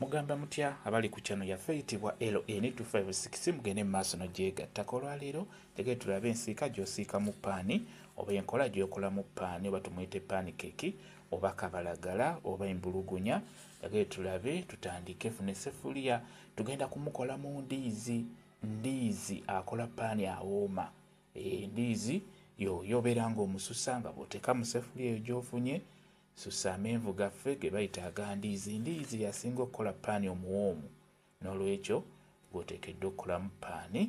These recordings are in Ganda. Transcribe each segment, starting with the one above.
Mugamba mutya abali ku channel yaffe eyitibwa LN256 mugende mu maaso nogyegattako. Olwaleero njagala tulabe ensiika gyosiikamu paani oba enkola gyokolamu paani oba tumuyite paani keeki oba kabalagala oba embulugunya. Njagala tulabe tutandike funa essefuliya tugenda kumukola mu ndiizi. Ndiizi akola paani awooma. Endiizi eh, yoyo obeera nga omususa nga bwoteeka mu ssefuliya eyo gyofunye Susa amenvu gaffe ge bayita aga ndiizi. Ndiizi y'asinga okukola ppaani omuwoomu. N'olwekyo, ggwe oteekeddwa okukolamu ppaani.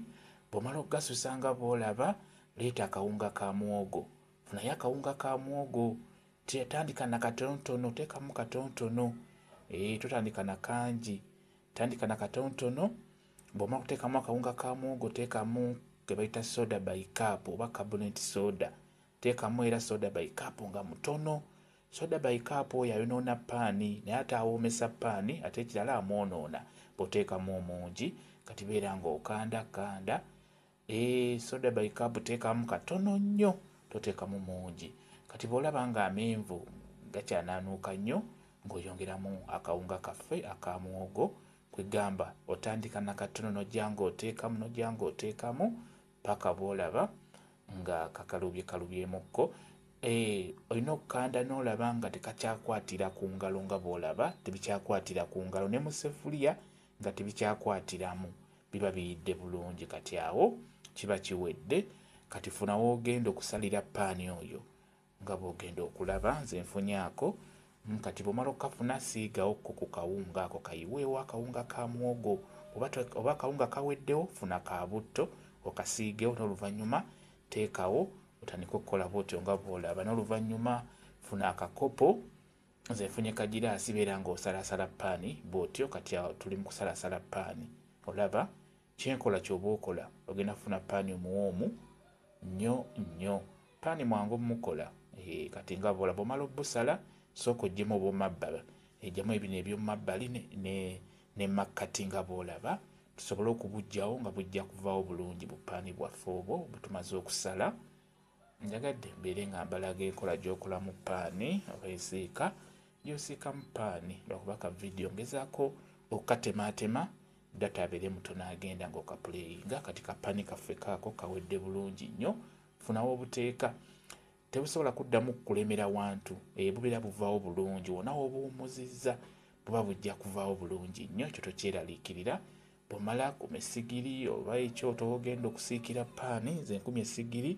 Bw'omala okugasusa nga bw'olaba, leeta akawunga ka muwogo. Funayo akawunga ka muwogo. Tya, tandika na katonotono, teekamu katonotono. Ee, totandika na kangi. Tandika na katonotono. Bw'omala okuteekamu akawunga ka muwogo, teekamu ke bayita soda by cup oba carbonate soda. Teekamu era soda by cup nga mutono. Soda by cup oyo ayonoona ppaani naye ate awoomesa ppaani ate ekirala amwonoona bw'oteekamu omungi kati beera ng'okanda kanda. Eeh soda by cup teekamu katono nnyo toteekamu mungi kati bw'olaba ng'amenvu gakyanaanuuka nnyo ng'oyongeramu akawunga kaffe aka muwogo kwe gamba otandika na katono n'ojja ng'oteekamu n'ojja ng'oteekamu paka bwolaba nga kakalubye kalubyemukko Eh, olina okukanda n'olaba nga tekakyakwatira ku ngalo nga bw'olaba tebikyakwatira ku ngalo ne mu sefuliya nga tebikyakwatiramu biba biyidde bulungi kati awo kiba kiwedde kati funa woogenda okusalira paani oyo Nga bwogenda okulaba nze nfunye ako mm kati bwomala okukafuna siigawo ko ku kawunga ako kayiweewo akawunga ka muwogo oba oba akawunga kaweddewo funa ka butto okasiigewo n'oluvannyuma teekawo otandike okukola bwotyo nga bwolaba n'oluvannyuma funa akakopo nze nfunye kagiraasi beera ng'osalaasala paani bwotyo kati awo tuli mu kusalaasala paani olaba Kyenkola kyoba okola ogenda funa pani omuwoomu nyo nyo pani mwangu mukola eh, kati nga bola bomala obusala sooka ojjemu obomabba ejamu ebino ebyomumabbali ne makkati nga bolaba tusobole okubujjawo nga bujja kuvawo bulungi bupaani bwaffe obwo butumaze okusala njagadde mbeere nga mbalaga enkola gyokola mu paani oba esiika gyosiika mu paani lwakuba ka vidiyo ngezako okukatemaatema Data abere mutono agenda nga okapuleyinga kati ka pani kaffe kaako kawedde bulungi nnyo funa wobuteeka tebusobola kuddamu kulemera wantu e bubera buvaawo bulungi wona wobuwumuzizza buba bujja kuvaawo bulungi nnyo ekyo tokyeraliikirira bwomala kuma esigiri oba ekyoto wogenda okusiikira paani nze nkumi esigiri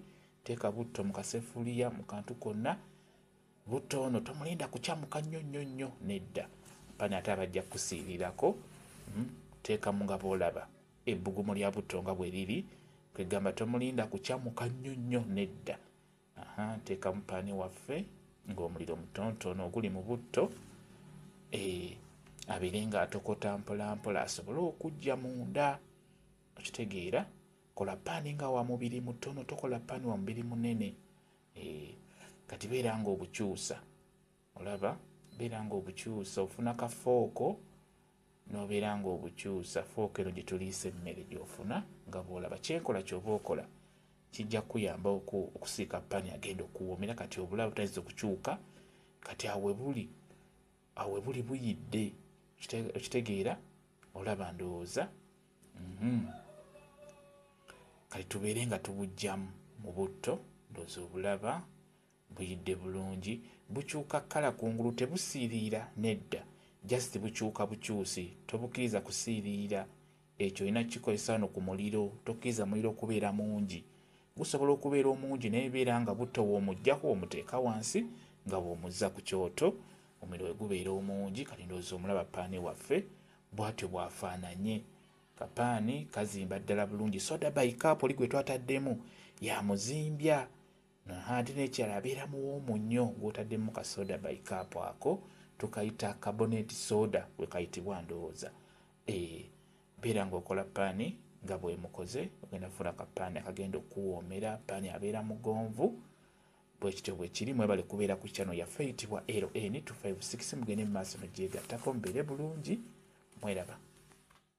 teeka butto mu kasefuliya mu kantu konna Butto ono tomulinda kukyamuka nnyo nnyo nnyo nedda pana ate abajja kukusiirirako hmm, teekamu nga boolaba ebbugumu lya butto nga bwe liri kwegamba tomulinda kukyamuka nnyo nnyo nedda teekamu paani waffe ng'omuliro mutontono oguli mu butto eh, abeere nga atokota mpolampola asobole okujja munda okitegeera kola paani nga wa mubiri mutono tokola paani wa mubiri munene Eh, kati beera nga obukyusa olaba beera nga obukyusa ofuna ka fooko nobeera nga obukyusa fooko eno gyetuliisa emmere gyofuna nga bwolaba kyenkola kyoba okola kijja kuyamba okusiika pani agenda okuwoomera kati obulaba butayinza okukyuka kati awebuli awebuli buyidde okitegeera olaba ndowooza Mhm. kati tubeere nga tubujjamu mu butto ndoza obulaba buyidde bulungi bukyuka kkala kungulu tebusiiriira nedda just bukyuka bukyusi tobukiriza kusiiriira ekyo olina kikozesa wano ku muliro tokkiriza muliro okubeera mungi gusobola okubeera omungi naye beera nga butto woomuggyako omuteeka wansi nga bw'omuzza ku kyoto omuliro we gubeera omungi kati ndowooza omulaba paani waffe Bwatyo bwafaananye. Kapaani kazimba ddala bulungi. Soda by cup oli gwe twataddemu yamuzimbya. Aha ate n'ekirala abeera muwoomu nnyo gw'otaddemu ka soda by cup ako tukayita carbonate soda we kayitibwa ndowooza. Eh, beera ng'okola paani nga bwemukoze ogenda fuula kapaani akagenda okuwoomera paani abeera mugonvu Bwekityo bwekiri mwebale kubeera ku channel yaffe eyitibwa LN256 mugende mumaaso nojjeegattako mubeere bulungi mweraba.